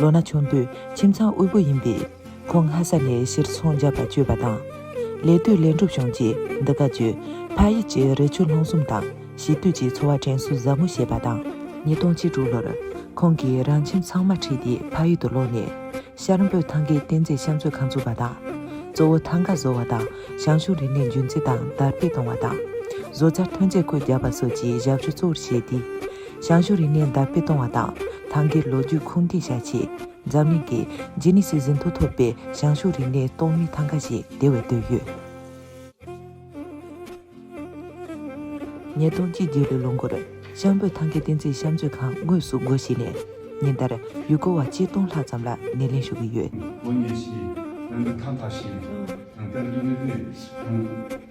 ལོ་ན་ཆུང་དུས་ཁྱིམ་ཚང་དབུལ་པོ་ཡིན་པས། ཁོང་ངྷ་ས་ནས་ཕྱིར་འཚོང་རྒྱག་པར་བསྐྱོད་པ་དང། ལས་གཏོད་ལས་འགྲུབ་བྱུང་རྗེས་འདི་ག་ཆུ་ཕ་ཡུལ་གྱི་རི་ཆུ་ལྷུང་གསུམ་དང་ཞི་དུལ་གྱི་འཚོ་བ་དྲན་གསོ་ཟབ་མོ་བྱས་པ་དང། ཉིས་སྟོང་བཅུ་དྲུག་ལོར། ཁོང་གིས་རང་ཁྱིམ་ཚང་མ་ཁྲིད་དེ་ཕ་ཡུལ་དུ་ལོག་ནས། ཤར་འབོད་ཐང་གའི་རྟེན་རྫས་བཤམས་མཛོད་ཁང་བཙུགས་པ་དང། གཙོ་བོ་ཐང་ག་བཟོ་བ་དང་ཞང་ཞུང་རིག་གནས་རྒྱུན་འཛིན་དང་དར་སྤེལ་གཏོང་བ་དང། བཟོ་རྩལ་ཐོན་རྫས་བཀོད་རྒྱག་པ་སོགས་ཀྱི་ཞབས་ཞུ་གཙོ་བོར་བྱས་ཏེ། ཞང་ཞུང་རིག་གནས་དར་སྤེལ་གཏོང་བ་དང་ཐང་གའི་ལོ་རྒྱུས་ཁུངས་འདེད་བྱ་ཆེད། འཛམ་གླིང་གི་ཇི་ནི་སི་ཟིན་ཐོ་ཐོབ་པའི་ཞང་ཞུང་རིག་གནས་གཏོང་མིའི་ཐང་ག་ཞིག་དེ་བས་བཏོད་ཡོད། ཉིས་སྟོང་གཅིག་བརྒྱད་ལོའི་ལོ་འགོར། ཤངས་བོད་ཐང་གའི་བསྟན་རྩིས་བཤམས་མཛོད་ཁང་དངོས་སུ་སྒོ་ཕྱེས་ནས། ཉིན་ལྟར་ཡུལ་སྐོར་བ་གཅིག་སྟོང་ལྷག་ཙམ་ལ་སྣེ་ལེན་ཞུ་གི་ཡོད། དགོན་གཉེར་བཞིའིརྣམ་པའི་ཐང་ག་ཞིག་ཡིན། ཐང་གའི་ལུས་རིག་གནས་ཁུངས།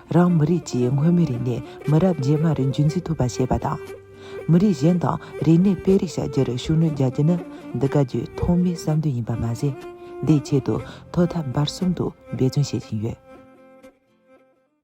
རང་མི་རིགས་ཀྱིས་སྔོན་མའི་རིག་གནས་མི་རབས་རྗེས་མར་རྒྱུན་འཛིན་ཐུབ་པ་བྱེད་པ་དང། མི་རིགས་གཞན་དང་རིག་གནས་སྤེལ་རེས་བྱ་རྒྱུར་ཤུགས་སྣོན་རྒྱག་རྒྱུ་ནི་འདི་ག་བརྒྱུད་ཐོག་མའི་བསམ་འདུན་ཡིན་པ་མ་ཟད། དེའི་ཆེད་དུ་ཐོག་མཐའ་བར་གསུམ་དུ་འབད་བརྩོན་བྱེད་བཞིན་ཡོད།